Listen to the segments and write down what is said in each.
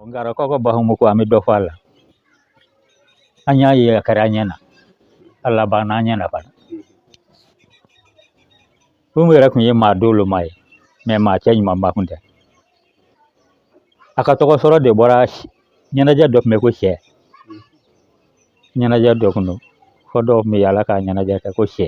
Ngarakaw ka Bahumu ko an bɛ dɔ fɔ a la an y'a ye a kɛra an ɲɛ na a labanna an ɲɛ na fana Bahumu yɛrɛ tun ye maa doloma ye mɛ maa cɛɲumanba kun tɛ a ka tɔgɔ sɔrɔ de bɔra ɲɛnajɛ dɔ tun bɛ ko sɛ ɲɛnajɛ dɔ kun don fɔ dɔw tun bɛ yaala ka ɲɛnajɛ kɛ ko sɛ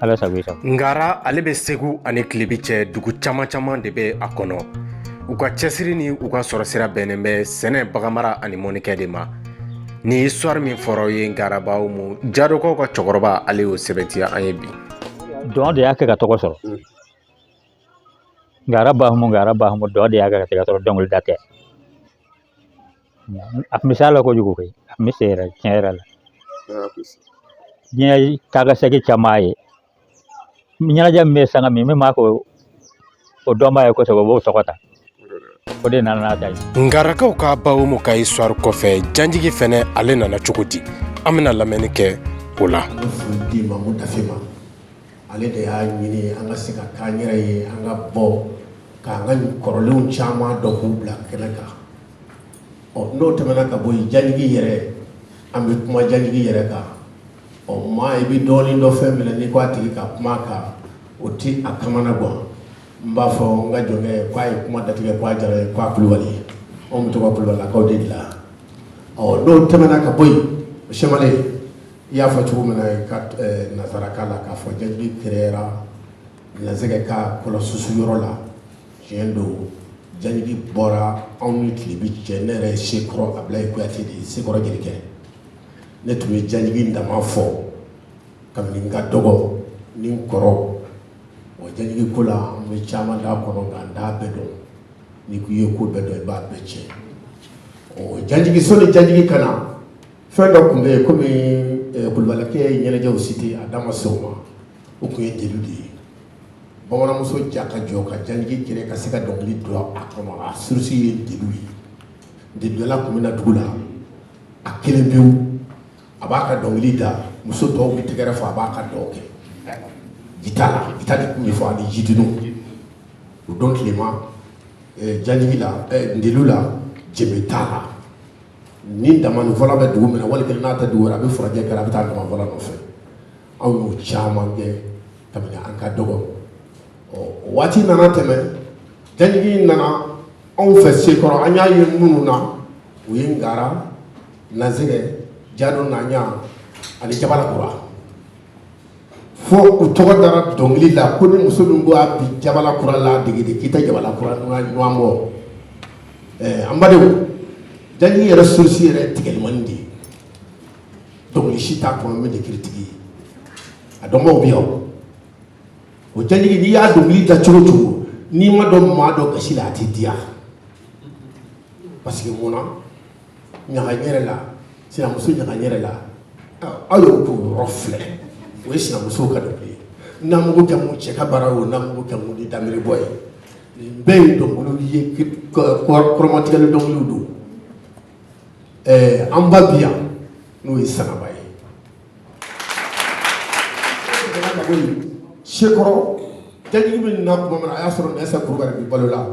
ala sago i sago ngara ale bɛ segu ani kilebi cɛ dugu caman caman de bɛ a kɔnɔ u ka cɛsiri ni u ka sɔrɔ sira bɛnnen bɛ sɛnɛ baganmara ani mɔnnikɛ de ma nin histoire min fɔra ye ngara bahumu jadokaw ka cɛkɔrɔba ale y'o sɛbɛntiya an ye bi dɔn de y'a kɛ ka tɔgɔ sɔrɔ ngara bahumu ngara bahumu dɔn de y'a kɛ ka tɔgɔ sɔrɔ dɔnkilida tɛ a bɛ s'a la kojugu koyi a bɛ se yɛrɛ tiɲɛ yɛrɛ la diɲɛ taa ka segin caman ye ɲɛnajɛ min bɛ sanga min min b'a ko o dɔnbaa ye kosɛbɛ o b'o tɔgɔ ta o de nana n'a ta ye ngarakaw ka bahumu ka histoire kɔfɛ janjigi fɛnɛ ale nana cogo di an bɛna lamɛnni kɛ o la di mamu dafe ma ale de y'a ɲini an ka se ka k'an yɛrɛ ye an ka bɔ k'an ka kɔrɔlenw caman dɔn k'u bila kɛnɛ kan ɔ n'o tɛmɛna ka bɔ yen jajigi yɛrɛ an bɛ kuma jajigi yɛrɛ kan ɔ maa i bɛ dɔɔnin dɔn fɛn min na n'i ko a tigi ka kuma a kan o tɛ a kamana gan n b'a fɔ n ka jɔnkɛ k'a ye kuma datigɛ k'a jara ye k'a kulubali ye anw bɛ to ka kulubalilakaw de dilan ɔ n'o tɛmɛna ka bɔ yen sɛmale i y'a fɔ cogo min na ka nanzarakan la k'a fɔ jajigi kɛrɛyara nanzɛgɛ ka kɔlɔsusu yɔrɔ la tiɲɛ don jajigi bɔra anw ni kilebi cɛ ne yɛrɛ ye sekɔrɔ abilayi kuyate de ye sekɔrɔ jelikɛ ne tun bɛ jajigi dama fɔ kabini n ka dɔgɔ ni n kɔrɔ o jajigi ko la an bɛ caman dɔn a kɔnɔ nka n t'a bɛɛ dɔn n'i ko i ye ko bɛɛ dɔn i b'a bɛɛ tiɲɛ o jajigi sanni jajigi ka na fɛn dɔ tun bɛ yen komi kulubalikɛ ye ɲɛnajɛw cité a da ma se o ma o tun ye ndelu de ye bamananmuso ja ka jɔ ka jajigi kɛnɛ ka se ka dɔnkili don a kɔnɔ a source ye ndelu ye ndeludala tun bɛ na dugu la a kelen pewu a b'a ka dɔnkili da muso tɔw bɛ tɛgɛrɛ fɔ a b'a ka dɔn kɛ gita la gita de tun bɛ fɔ ani jidunu o don tilema eh, jajigi la eh, ndelu la jɛmɛ t'a la ni damanifɔla bɛ dugu min na wali kelen n'a tɛ dugu wɛrɛ a bɛ furajɛ kɛra a bɛ taa damanifɔla nɔfɛ anw y'o caman kɛ kabini an ka dɔgɔ ɔ waati nana tɛmɛ janjigi nana anw fɛ sekɔrɔ an y'a ye minnu na u ye ngara nasɛgɛ jado naɲa ani jabala kura fo u tɔgɔ dara dɔnkili la ko ni muso min ko a bi jabala kura la degede k'i tɛ jabala kura ɲɔgɔn bɔ an badenw janjigi yɛrɛ source yɛrɛ tigɛlimani de ye dɔnkili si t'a kɔnɔ min tɛ kiritigi ye a dɔnbaaw bɛ yan o janjigi n'i y'a dɔnkili da cogo cogo n'i ma don maa dɔ gasi la a tɛ diya parce que mun na ɲaga ɲɛrɛ la sinamuso ɲaga ɲɛrɛ la aw y'o k'o yɔrɔ filɛ o ye sinamusow ka dɔnkili ye namugu kɛ mun cɛ ka baara ye o namugu kɛ mun ni damiri bɔ ye nin bɛɛ ye dɔnkiliw ye kɔrɔmatigɛli dɔnkiliw don ɛɛ an ba bi yan n'o ye sanaba ye sekɔrɔ janjigi bi na tuma min na a y'a sɔrɔ nɛɛsa kulubali bi balo la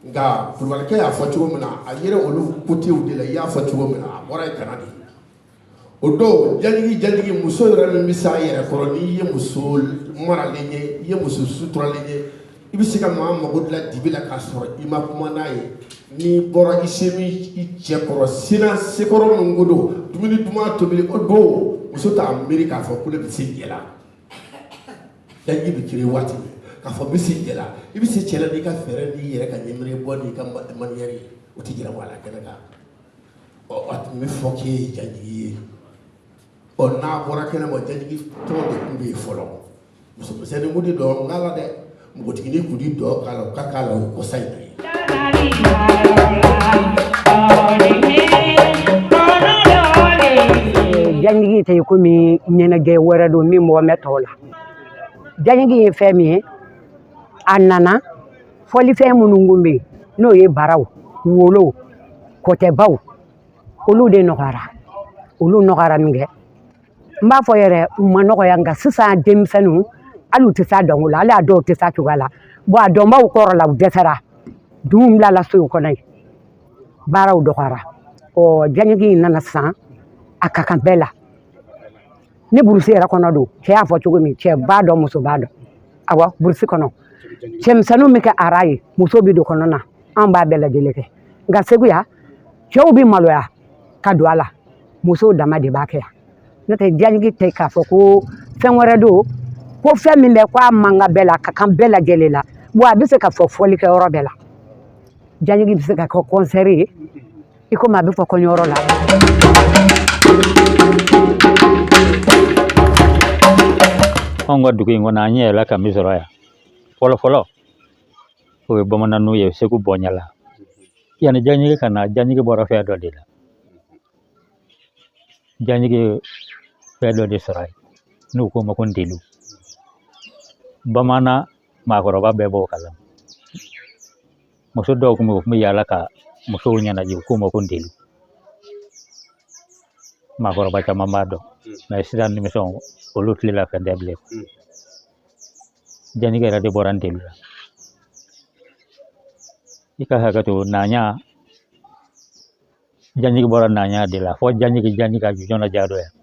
nka kulubalikɛ y'a fɔ cogo min na a yɛrɛ olu kotew de la i y'a fɔ cogo min na a bɔra yen kan na de o don janjigi janjigi muso yɛrɛ min bɛ se a yɛrɛ kɔrɔ n'i ye muso maralen ye i ye muso suturalen ye i bɛ se ka maa mago dilan dibi la k'a sɔrɔ i ma kuma n'a ye n'i bɔra i se min i cɛ kɔrɔ sina sekɔrɔ min ko don dumuni duman tobili o don muso t'a miiri k'a fɔ ko ne bɛ se cɛ la janjigi bɛ kiri waati min k'a fɔ n bɛ se cɛ la i bɛ se cɛ la n'i ka fɛɛrɛ n'i yɛrɛ ka ɲɛmiri bɔ n'i ka maniyɛri ye o tɛ jira maa la kɛnɛ kan ɔ a tun bɛ fɔ k'e ye janjigi ye ɔ n'a bɔra kɛnɛ ma janjigi tɔn de tun bɛ yen fɔlɔ muso misɛnnin kun tɛ dɔn k'a la dɛ npogotiginin kun tɛ dɔn k'a la o ka k'a la o kɔsa in na janjigi tɛ komi ɲɛnajɛ wɛrɛ don min mɔgɔ mɛ tɔw la janjigi ye fɛn min ye a nana fɔlifɛn minnu kun bɛ yen n'o ye baraw wolow kɔtɛbaw olu de nɔgɔyara olu nɔgɔyara min kɛ n b'a fɔ yɛrɛ u ma nɔgɔya nka sisan denmisɛnninw hali u tɛ s'a dɔnko la hali a dɔw tɛ s'a cogoya la bɔn a dɔnbaw kɔrɔla u dɛsɛra duw bilala sow kɔnɔ yen baraw dɔgɔyara ɔ janjigi in nana sisan a ka kan bɛɛ la ni burusi yɛrɛ kɔnɔ don cɛ y'a fɔ cogo min cɛ b'a dɔn muso b'a dɔn awa burusi kɔnɔ cɛmisɛnninw bɛ kɛ ara ye muso bɛ don kɔnɔ na an b'a bɛɛ lajɛlen kɛ nka segu yan cɛw bɛ maloya ka don a la musow dama de b'a kɛ yan n'o tɛ janjigi tɛ k'a fɔ ko fɛn wɛrɛ don ko fɛn min bɛ k'a man kan bɛɛ la ka kan bɛɛ lajɛlen la wa a bɛ se ka fɔ fɔlikɛ yɔrɔ bɛɛ la janjigi bɛ se ka kɛ kɔnsɛri ye i komi a bɛ fɔ kɔɲɔyɔrɔ la. anw ka dugu in kɔnɔ an ɲɛ yɛlɛla ka min sɔrɔ yan fɔlɔ fɔlɔ o ye bamananw ye segu bɔnjalan yanni janjigi ka na janjigi bɔra fɛn dɔ de la janjigi ye fɛn dɔ de sɔrɔ yen n'u k'o ma ko ndeli bamanan maakɔrɔba bɛɛ b'o kalama muso dɔw kun bɛ u kun bɛ yaala ka musow ɲɛnajɛ u k'o ma ko ndeli maakɔrɔba caman b'a dɔn mɛ sisan denmisɛnw olu tile la fɛn tɛ bilen janjigi yɛrɛ de bɔra ndeli la i ka hakɛ to naɲa janjigi bɔra naɲa de la fɔ janjigi janji ka ju jɔna ja dɔ yan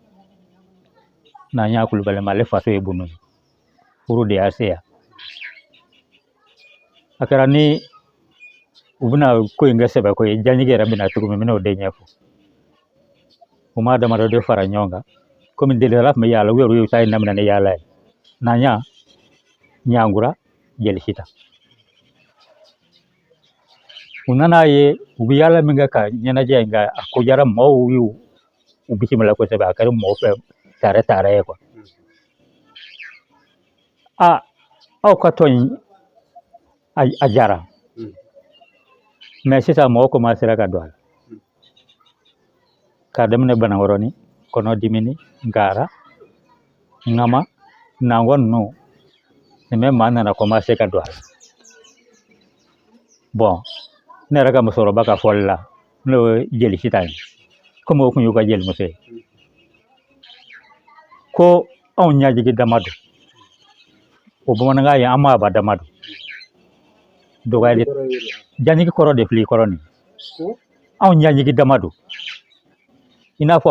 naɲa kulubali mɛ ale faso ye bunu ye furu de y'a se yan a kɛra ni u bɛna ko in kɛ sɛbɛ ko ye janjigi yɛrɛ bɛna cogo min bɛna o de ɲɛfɔ u maa damadɔ de fara ɲɔgɔn kan komi delikɛla tun bɛ yaala u yɛrɛ y'u ta ye daminɛ ni yaala ye naɲa ɲankura jeli sitan u nana a ye u bɛ yaala min kɛ ka ɲɛnajɛ in kɛ a ko diyara mɔgɔw y'u u bisimila kosɛbɛ a kɛra mɔgɔ fɛ taara taara ye kuwa a aw ka tɔn in a a jara Mm. mɛ sisan mɔgɔ komasera ka don a la k'a daminɛ banankɔrɔni kɔnɔdimini ngara ŋama nangɔ ninnu bɛɛ maa nana komase ka don a la bɔn ne yɛrɛ ka musokɔrɔba ka fɔli la n'o ye jeli sitan ye komi o kun y'u ka jelimuso ye ko anw ɲajigi dama don o bamanankan ye an maaba dama don dɔgɔyali janjigi kɔrɔ de filɛ i kɔrɔ nin anw ɲajigi dama don i n'a fɔ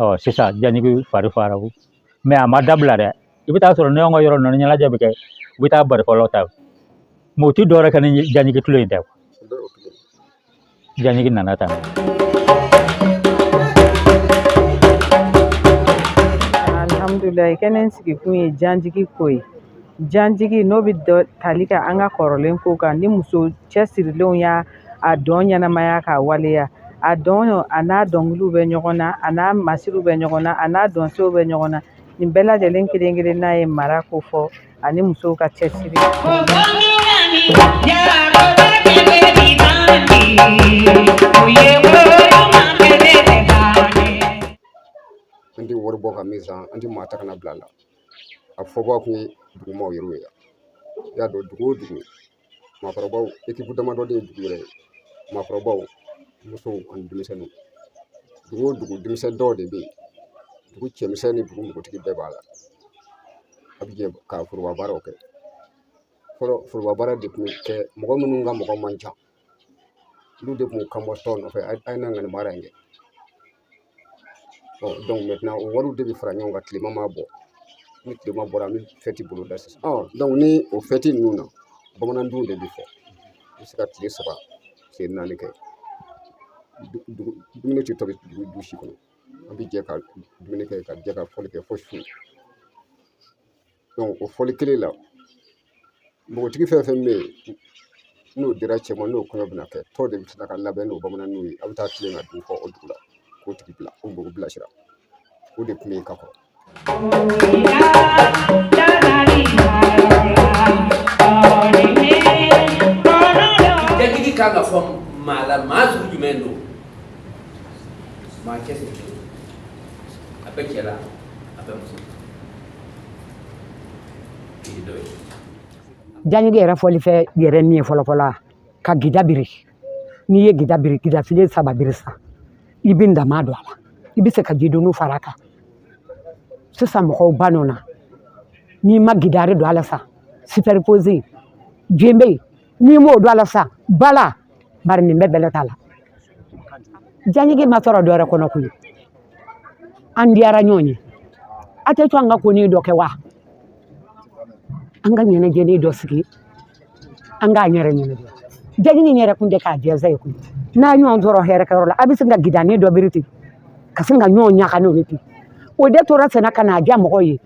ɔ sisan janjigi fari faara o mɛ a ma dabila dɛ i bɛ taa sɔrɔ ni an ka yɔrɔ ninnu ɲɛnajɛ bɛ kɛ u bɛ taa barifɔlaw ta mɛ u tɛ dɔwɛrɛ kɛ ni janjigi tulon in tɛ janjigi nana tan alhamdulilayi kɛnɛ in sigikun ye janjigi ko ye janjigi n'o bɛ tali kɛ an ka kɔrɔlen ko kan ni muso cɛsirilenw y'a a dɔn ɲɛnamaya k'a waleya a dɔn a n'a dɔnkiliw bɛ ɲɔgɔn na a n'a masiriw bɛ ɲɔgɔn na a n'a dɔnsew bɛ ɲɔgɔn na nin bɛɛ lajɛlen kelen kelenna ye mara kofɔ ani musow ka cɛsiri an tɛ wari bɔ ka min san an tɛ maa ta ka na a bila a la a fɔbaa kun ye dugumaaw yɛrɛ ye i y'a dɔn dugu o dugu maakɔrɔbaw ekipu damadɔ de ye dugu yɛrɛ ye maakɔrɔbaw musow ani denmisɛnninw dugu o dugu denmisɛnnin dɔw de bɛ yen dugu cɛmisɛn ni dugu npogotigi bɛɛ b'a la a bɛ jɛ ka foroba baaraw kɛ fɔlɔ foroba baara de tun bɛ kɛ mɔgɔ minnu ka mɔgɔ man ca olu de tun bɛ kan bɔ tɔn nɔfɛ a ye na nin baara in kɛ ɔ donc maintenant o wariw de bɛ fara ɲɔgɔn kan tilema ma bɔ ni tilema bɔra an bɛ fɛti bolo da sisan ɔ donc ni o fɛti ninnu na bamanandunun de bɛ fɔ i bɛ se ka tile saba tile naani kɛ dumuni tɛ tobi du si kɔnɔ an bɛ jɛ ka dumuni kɛ ka jɛ ka fɔli kɛ fo su o fɔli kelen la npogotigi fɛn fɛn bɛ yen n'o dira cɛ ma n'o kɔɲɔ bɛna kɛ tɔw de bɛ tila ka labɛn n'o bamananw ye a bɛ taa tilen ka dunun fɔ o dugu la k'o tigi bila o mɔgɔ bilasira o de tun bɛ yen ka kɔrɔ janjigi kan ka fɔ maa la maa sugu jumɛn don maa cɛsirilen a bɛ cɛ la a bɛ muso la Janjigi yɛrɛ fɔlifɛn yɛrɛ min ye fɔlɔfɔlɔ ka gida biri n'i ye gida biri gida filen saba biri sa i bɛ ndama don a la i bɛ se ka jidunun fara a kan sisan mɔgɔw banna o na n'i ma gidari don a la sa superposé jembe n'i m'o don a la sa bala bari nin bɛɛ bɛlɛ t'a la janjigi ma sɔrɔ dɔ wɛrɛ kɔnɔ koyi an diyara ɲɔgɔn ye a tɛ to an ka konin dɔ kɛ wa an ka ɲɛnajɛnin dɔ sigi an k'an yɛrɛ ɲɛnajɛ janjigi yɛrɛ kun tɛ k'a jɛnsɛn ye koyi n'a ɲɔgɔn sɔrɔ hɛrɛ kɛyɔrɔ la a bɛ sin ka gidanin dɔ biri ten ka sin ka ɲɔgɔn ɲaga n'o ye ten o de tora sen na ka na diya mɔgɔw ye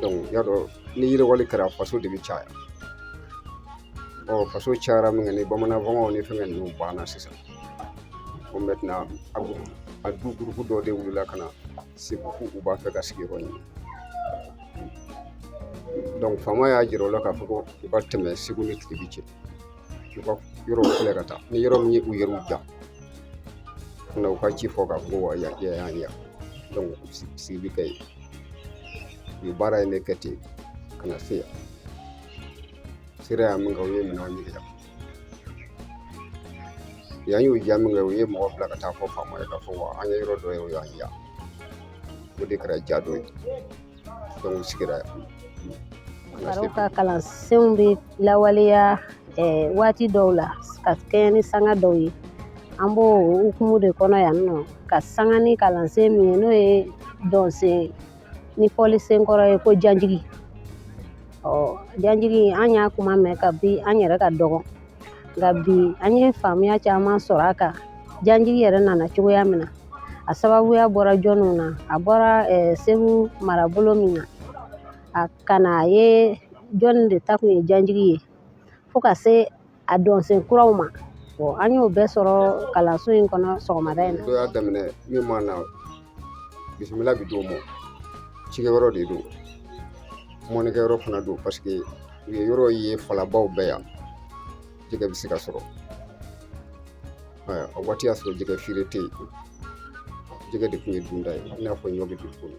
donc i y'a dɔn ni yiriwali kɛra faso de bɛ caya ɔ faso cayara min kɛ ni bamanan fɔnkɔw ni fɛngɛ ninnu banna sisan ko maintenant a du gurupu dɔ de wulila ka na segu ko u b'a fɛ ka sigiyɔrɔ ɲini donc faama y'a jira o la k'a fɔ ko u ka tɛmɛ segu ni tilebin cɛ u ka yɔrɔw filɛ ka taa ni yɔrɔ min ye u yɛrɛw ja na u ka ci fɔ k'a fɔ ko yan y'an ya sigi bɛ kɛ yen u ye baara in de kɛ ten ka na se yan sera yan min kɛ u ye minɛnw ɲini yan yan y'u diya min kɛ u ye mɔgɔ bila ka taa fɔ faama ye k'a fɔ wa an ye yɔrɔ dɔ ye o y'an diya o de kɛra Jado ye dɔnku sigira yan faro ka kalansenw bɛ lawaleya eh, waati dɔw la ka kɛɲɛ ni sanga dɔw ye an b'o hukumu de kɔnɔ yan nɔ ka sanga ni kalansen min ye n'o ye dɔnsen ni fɔlisen kɔrɔ ye ko janjigi ɔ janjigi an y'a kuma mɛn kabi an yɛrɛ ka dɔgɔn nka bi an ye faamuya caman sɔrɔ a kan janjigi yɛrɛ nana cogoya min na a sababuya bɔra jɔnniw na a bɔra eh, segu marabolo min na a ka na a ye jɔnni de ta kun ye janjigi ye fo ka se a dɔnsen kuraw ma an y'o bɛɛ sɔrɔ kalanso in kɔnɔ sɔgɔmada in na. Dɔ y'a daminɛ min ma na bisimila bɛ d'o ma cikɛ yɔrɔ de don mɔnikɛ yɔrɔ fana don paseke u ye yɔrɔ ye falabaw bɛ yan jɛgɛ bɛ se ka sɔrɔ o waati y'a sɔrɔ jɛgɛ feere tɛ yen jɛgɛ de tun ye dunta ye i n'a fɔ ɲɔ bɛ dun cogo min